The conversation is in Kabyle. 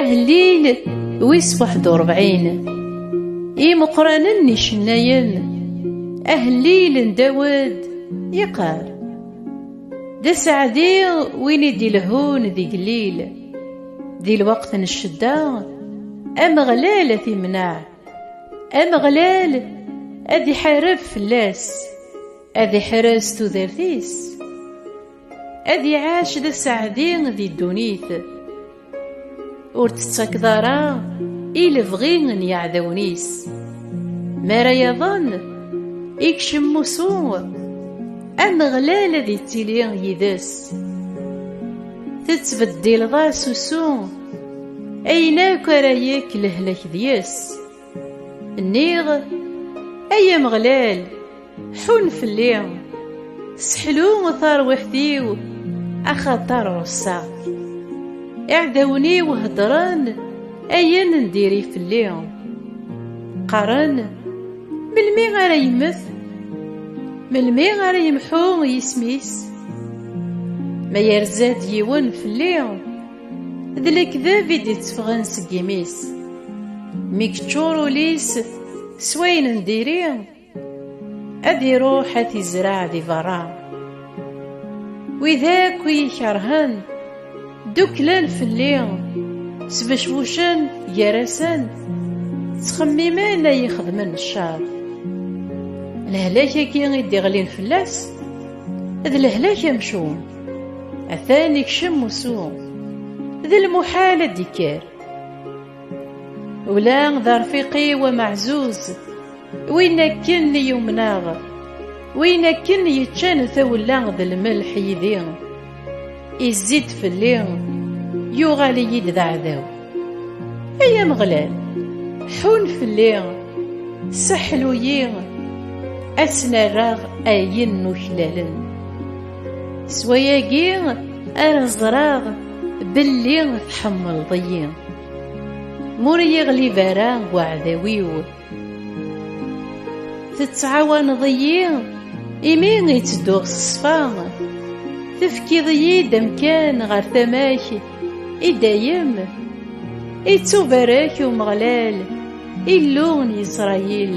Ahellil wis waḥed u rebɛin Imeqqranen n icennayen Ahellil n Dawed yeqqar D aseɛdi win i d-ilehhun d igellil Di lweqt n ccedda Ameɣlal ad t-imneɛ Ameɣlal ad iḥareb fell-as Ad iḥrez tudert-is, ad iɛac d asaɛdi di ddunit, ur tettakeḍ ara i lebɣi n yeɛdawen-is. Mi ara yaḍen, ikcem usu, Ameɣlal ad ittili yid-s. Tettbeddileḍ-as usu, ayen akk ara yekk lehlak deg-s. Nniɣ, ay Ameɣlal, ḥun fell-i, seḥlu tarwiḥt-iw, axaṭer ɣusseɣ. Iɛdawen-iw heddren ayen n diri fell-i. Qqaren, melmi ara yemmet? Melmi ara yemḥu yisem-is? Ma yerza-d yiwen fell-i, D lekdeb i d-itteffɣen seg imi-s. Mi yeččur ul-is s wayen n diri, ad iruḥ ad t-izreɛ di berra. Wid akk i yi-ikerhen, ddukklen fell-i, sbecbucen gar-asen, ttxemmimen ad yi-xedmen ccer. Lehlak-agi i d-iɣlin fell-as, d lehlak amcum. atan ikcem musu d lmuḥal ad d-ikker ula d arfiq-iw amaɛzuz win akken i yumneɣ win akken yeččan tawella d lmelḥ yid-i izzi-d fell-i yuɣal-iyi-d d aɛdaw ay Ameɣlal ḥun fell-i seḥlu-yi ad s-nerreɣ ayen n uklalen S wayagi ara ẓreɣ belli tḥemmleḍ-iyi M'ur iyi-ɣlib ara weɛdaw-iw Tettɛawaneḍ-iyi imi i ttedduɣ s ṣṣfa Tefkiḍ-iyi-d amkan ɣer tama-k i dayem Ittubarek Umeɣlal Illu n Yisṛayil